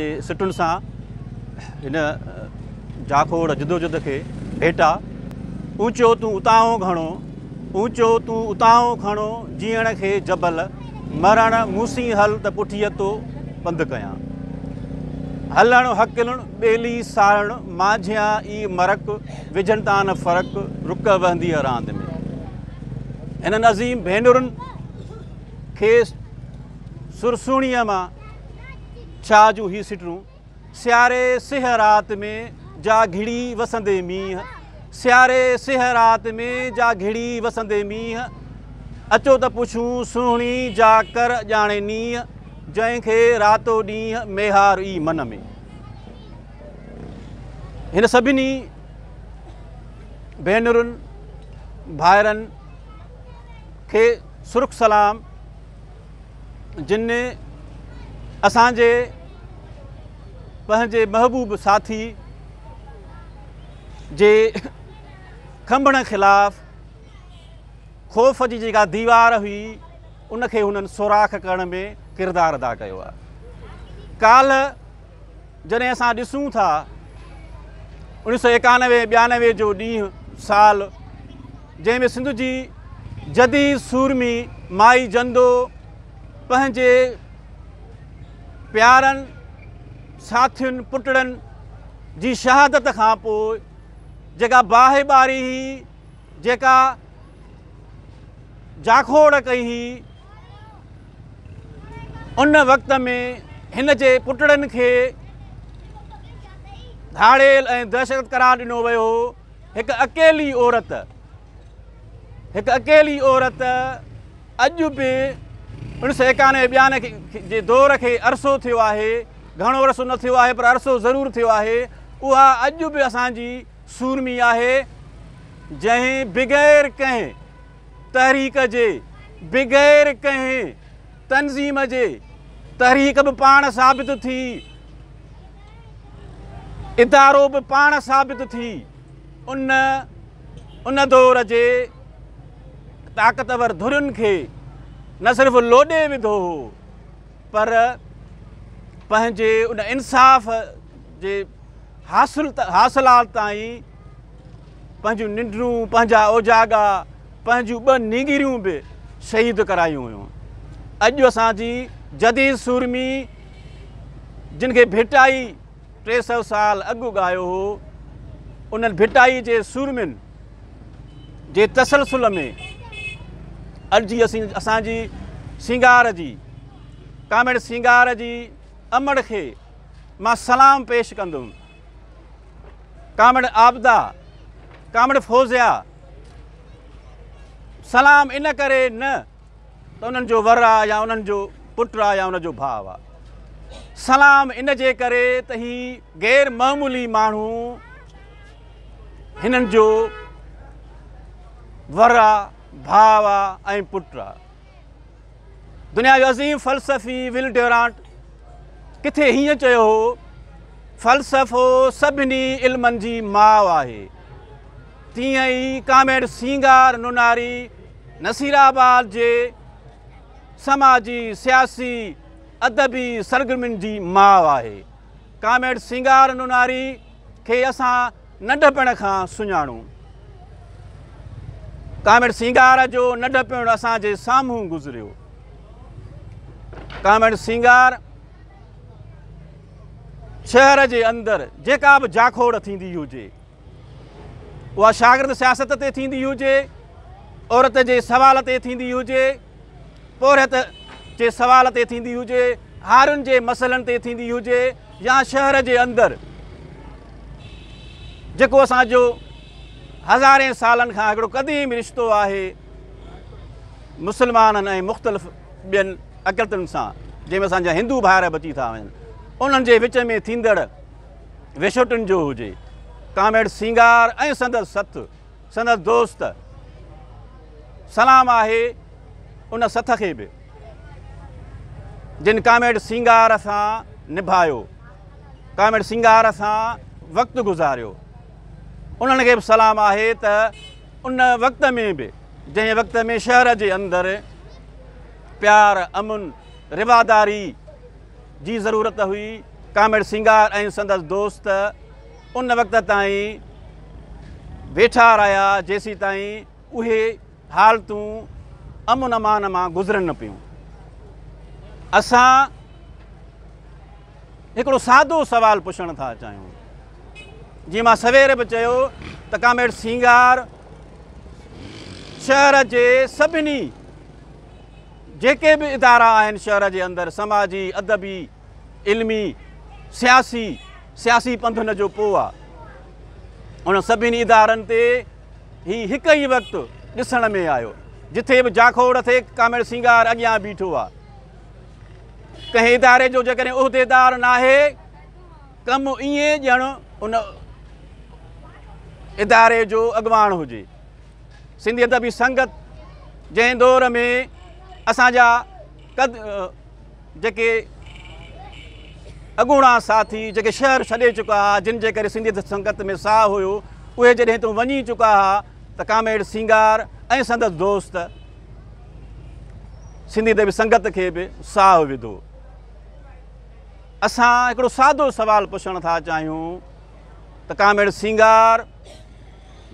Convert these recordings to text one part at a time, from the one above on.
جي سٽن سان هن جاکوڙ جدوجد کي ڀيٽا اوچو تون اتاهون گهڻو اوچو تون اتاهون گهڻو جيئڻ کي جبل مرڻ موسين هل ته پٺيء تو پنڌ ڪيان هلڻ هڪلڻ ٻيلي سارڻ مانجهيان ئي مرڪ وجهن تان نه فرق رڪ وهنديء راند ۾ هنن عظيم ڀينرن کي سرسوڻيء مان ڇا جون هي سٽرون، سياري سيهه رات ۾ جا گهڙي وسندي مينهن، سياري سيهه رات ۾ جا گهڙي وسندي مينهن، اچو ته پڇون سونهڻي جا ڪر ڄاڻي نينهن، جنهن کي راتو ڏينهن ميهار ئي من ۾. هن سڀني ڀينرن ڀائرن کي سرخ سلام. جن اسان جي پنهنجي محبوب ساٿي جي کنڀڻ خلاف خوف جي جيڪا ديوار هئي ان کي هنن سوراخ ڪرڻ ۾ ڪردار ادا ڪيو آهي ڪالهه جڏهن اسان ڏسون ٿا اوڻيھ سؤ ايڪانوي ٻيانوي جو ڏينهن سال جنهن ۾ سنڌ جي جدي سورمي مائي جندو پنهنجي پيارن ساٿين پٽڙن جي شهادت کان پوء جيڪا باهه ٻاري هئي جيڪا جاکوڙ ڪئي هئي ان وقت ۾ هن جي پٽڙن کي ڌاڙيل ۽ دهشت قرار ڏنو ويو هو هڪ اڪيلي عورت هڪ اڪيلي عورت اڄ به انهن سو ايڪانوي ٻيان جي دور کي عرصو ٿيو آهي گهڻو عرصو نه ٿيو آهي پر عرصو ضرور ٿيو آهي اها اڄ به اسانجي سورمي آهي جنهن بغير ڪنهن تحريڪ جي بغير ڪنهن تنظيم جي تحريڪ به پاڻ ثابت ٿي ادارو به پاڻ ثابت ٿي ان ان دور جي طاقتور ڌرين کي نه صرف لوڏي وڌو هو پر پنهنجي ان انصاف جي حاصل حاصلات تائين پنهنجون ننڊون، پنهنجا اوجاڳا، پنهنجون ٻه نينگريون به شهيد ڪرايون هيون. اڄ اسان جي جديد سورمي جن کي ڀٽائي ٽي سؤ سال اڳ اڳايو هو انهن ڀٽائي جي سورمين جي تسلسل ۾ اڄ جي اسان جي سينگار جي ڪاميڙ سينگار جي امڙ کي مان سلام پيش ڪندم ڪامڙ عابده، ڪامڙ فوزيه سلام ان ڪري نه ته انهن جو ور آ يا انهن جو پٽ آ يا ان جو ڀاء آ سلام ان جي ڪري ته هي غير معمولي ماڻهو هنن جو ور آ ڀاء آ ۽ پٽ آ دنيا جو عظيم فلسفي ول ڊيورانٽ ڪٿي هيئن چيو هو فلسفو سڀني علمن جي ماء آهي تيئن ئي ڪاميڊ سينگار نوناري نصير آباد جي سماجي سياسي ادبي سرگرمين جي ماء آهي ڪاميڊ سينگار نوناري کي اسان ننڍپڻ کان سڃاڻون. ڪامريڊ سينگار جو ننڍپڻ اسان جي سامهون گذريو. ڪامريڊ سينگار شهر جي اندر جيڪا به جاکوڙ ٿيندي هجي اها شاگرد سياست تي ٿيندي هجي عورت جي سوال تي ٿيندي هجي پورهيت جي سوال تي ٿيندي هجي، هارين جي مسئلن تي ٿيندي هجي يا شهر جي اندر جيڪو اسان جو هزارين سالن کان هڪڙو قديم رشتو آهي مسلمانن ۽ مختلف ٻين اقلتن سان جنهن ۾ اسان جا هندو ڀائر به اچي ٿا وڃن انهن جي وچ ۾ ٿيندڙ وشوٽن جو هجي ڪاميڊ سينگار ۽ سندس سٿ سندس دوست سلام آهي ان سٿ کي به جن ڪاميڊ سينگار سان نڀايو ڪاميڊ سينگار سان وقت گذاريو انهن کي به سلام آهي ته ان وقت ۾ به جنهن وقت ۾ شهر جي اندر پيار امن رواداري جي ضرورت هئي ڪاميڊ سينگار ۽ سندس دوست ان وقت تائين ويٺا رهيا جيسيتائين اهي حالتون امن امان مان گذرن نه پيون اسان هڪڙو سادو سوال پڇڻ ٿا چاهيون جي مان سوير به چيو ته ڪاميڊ سينگار شهر جي سڀني جيڪي به ادارا آهن شهر جي اندر سماجي ادبي علمي، سياسي، سياسي پنڌن جو پوء آ. انهن سڀني ادارن تي هي هڪ ئي وقت ڏسڻ ۾ آيو. جٿي به جاکوڙ ٿي ڪامريڊ سينگار اڳيان بيٺو آ. ڪنهن اداري جو جيڪڏهن عهديدار ناهي ڪم ائين ڄڻ ان اداري جو اڳواڻ هجي. سنڌي ادبي سنگت جنهن دور ۾ اسان جا قد جيڪي اڳوڻا ساٿي جيڪي شهر ڇڏي چڪا ها جن جي ڪري سنڌيت سنگت ۾ ساهه هيو اهي جڏهن تون وڃي چڪا ها ته ڪاميڙ سينگار ۽ سندس دوست سنڌي ادبي سنگت کي به ساهه وڌو اسان هڪڙو سادو سوال پڇڻ ٿا چاهيون ته ڪاميڙ سينگار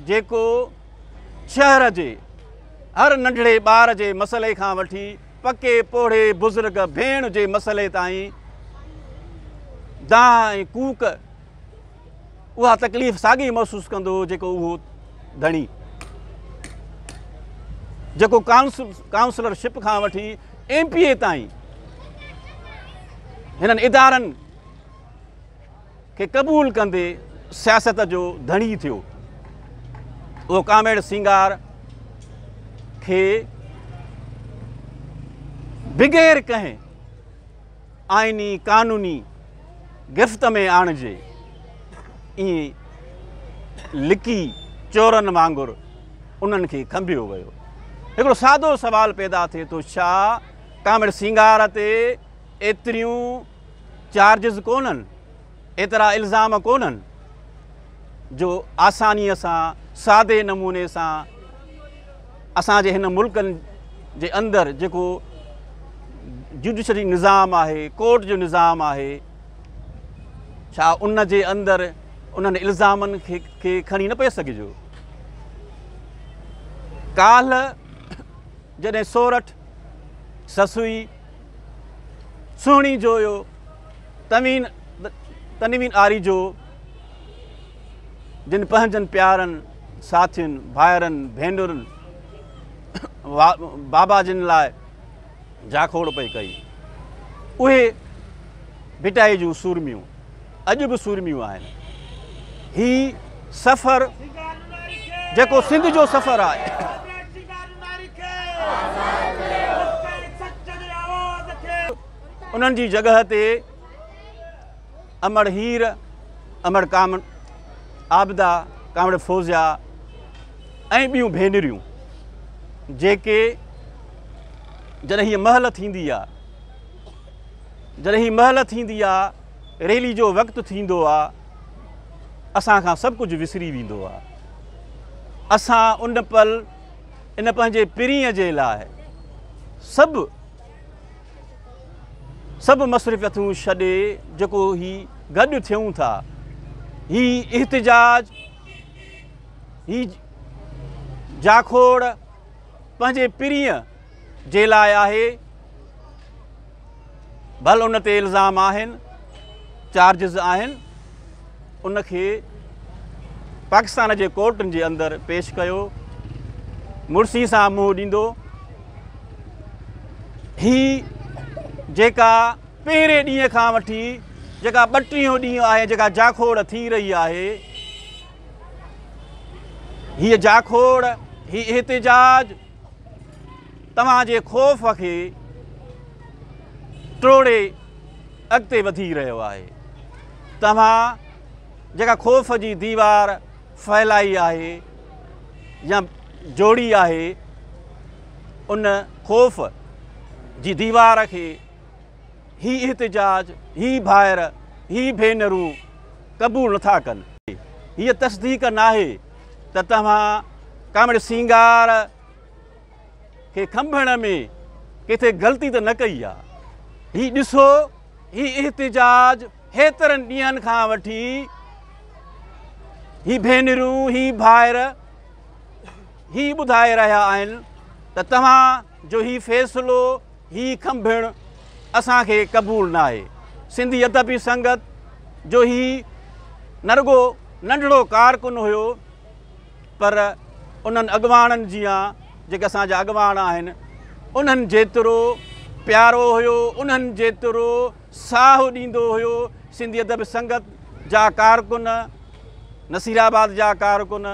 جيڪو شهر جي هر ننڍڙي ٻار جي مسئلي کان وٺي پڪي پوڙهي بزرگ ڀيڻ جي مسئلي تائين دانهن ۽ ڪوڪ اها تڪليف ساڳي محسوس ڪندو هو جيڪو اهو ڌڻي جيڪو ڪائونسل ڪائونسلرشپ کان وٺي ايم پي اي تائين هنن ادارن کي قبول ڪندي سياست جو ڌڻي ٿيو. اهو ڪاميڙ سينگار کي بغير ڪنهن آئيني قانوني گرفت ۾ آڻجي ائين لڪي چورن وانگر انهن کي کنڀيو ويو. هڪڙو سادو سوال پيدا ٿئي ٿو ڇا ڪاميڙ سينگار تي ايتريون چارجز ڪونهن، ايترا الزام ڪونهن جو آسانيء سان سادي نموني سان اسان جي هن ملڪن جي اندر جيڪو جوڊيشري نظام آهي، ڪورٽ جو نظام آهي، ڇا ان جي اندر انهن الزامن کي کڻي نه پئي سگهجو؟ ڪالهه جڏهن سورٺ، سسوي، سهڻي جو يو تنوين تنوين آري جو جن پنهنجن پيارن ساٿين ڀائرن ڀينرن بابا جن لاء جاکوڙ پئي ڪئي اهي ڀٽائي جون سورميون اڄ به سورميون آهن. هي سفر جيڪو سنڌ جو سفر آهي. انهن جي جڳهه تي امڙ هير، امڙ ڪامڙ، عابده، ڪامڙ فوزيا ۽ ٻيون ڀينريون جيڪي جڏهن هيء مهل ٿيندي آهي جڏهن هيء مهل ٿيندي آهي. ريلي جو وقت ٿيندو آ اسان کان سڀ ڪجهه وسري ويندو آ اسان ان پل ان پنهنجي پرينء جي لاء سڀ سڀ مصرفتون ڇڏي جيڪو هي گڏ ٿيون ٿا هي احتجاج هي جاکوڙ پنهنجي پرينء جي لاء آهي ڀل ان تي الزام آهن چارجز آهن ان کي پاڪستان جي ڪورٽن جي اندر پيش ڪيو مرسي سان منهن ڏيندو هي جيڪا پهرين ڏينهن کان وٺي جيڪا ٻٽيهون ڏينهن آهي جيڪا جاکوڙ ٿي رهي آهي هيء جاکوڙ هي احتجاج توهان جي خوف کي ٽوڙي اڳتي وڌي رهيو آهي توهان جيڪا خوف جي ديوار ڦهلائي آهي يا جوڙي آهي ان خوف جي ديوار کي هي احتجاج هي ڀائر هي ڀينرون قبول نٿا ڪن هيء تصديق ناهي ته توهان ڪامڙي سينگار کي کنڀڻ ۾ ڪٿي غلطي ته نه ڪئي آهي هي ڏسو هي احتجاج هيترن ڏينهن کان وٺي هي ڀينرون هي ڀائر هي ٻڌائي رهيا آهن ته توهان جو هي فيصلو هي کنڀڻ اسان کي قبول ناهي. سنڌي ادبي سنگت جو هي نه رڳو ننڍڙو ڪارڪن هيو پر انهن اڳواڻن جيان جيڪي اسان جا اڳواڻ آهن انهن جيترو پيارو هيو انهن جيترو ساهه ڏيندو هيو سنڌي ادبي سنگت جا ڪارڪن نصيرآباد جا ڪارڪن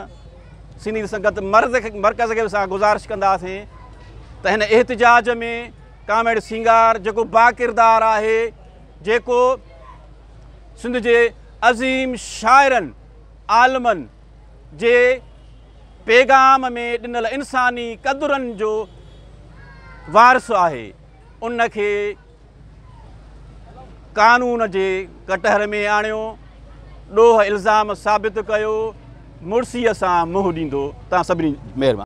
سنيد سنگت مرڪز کي به اسان گذارش ڪنداسين ته هن احتجاج ۾ ڪاميڙ سينگار جيڪو با ڪردار آهي جيڪو سنڌ جي عظيم شاعرن عالمن جي پيغام ۾ ڏنل انساني قدرن جو وارث آهي ان کي قانون جي ڪٽهر ۾ آڻيو، ڏوهه الزام ثابت ڪيو، مڙسيء سان منهن ڏيندو، توهان سڀني مهربان.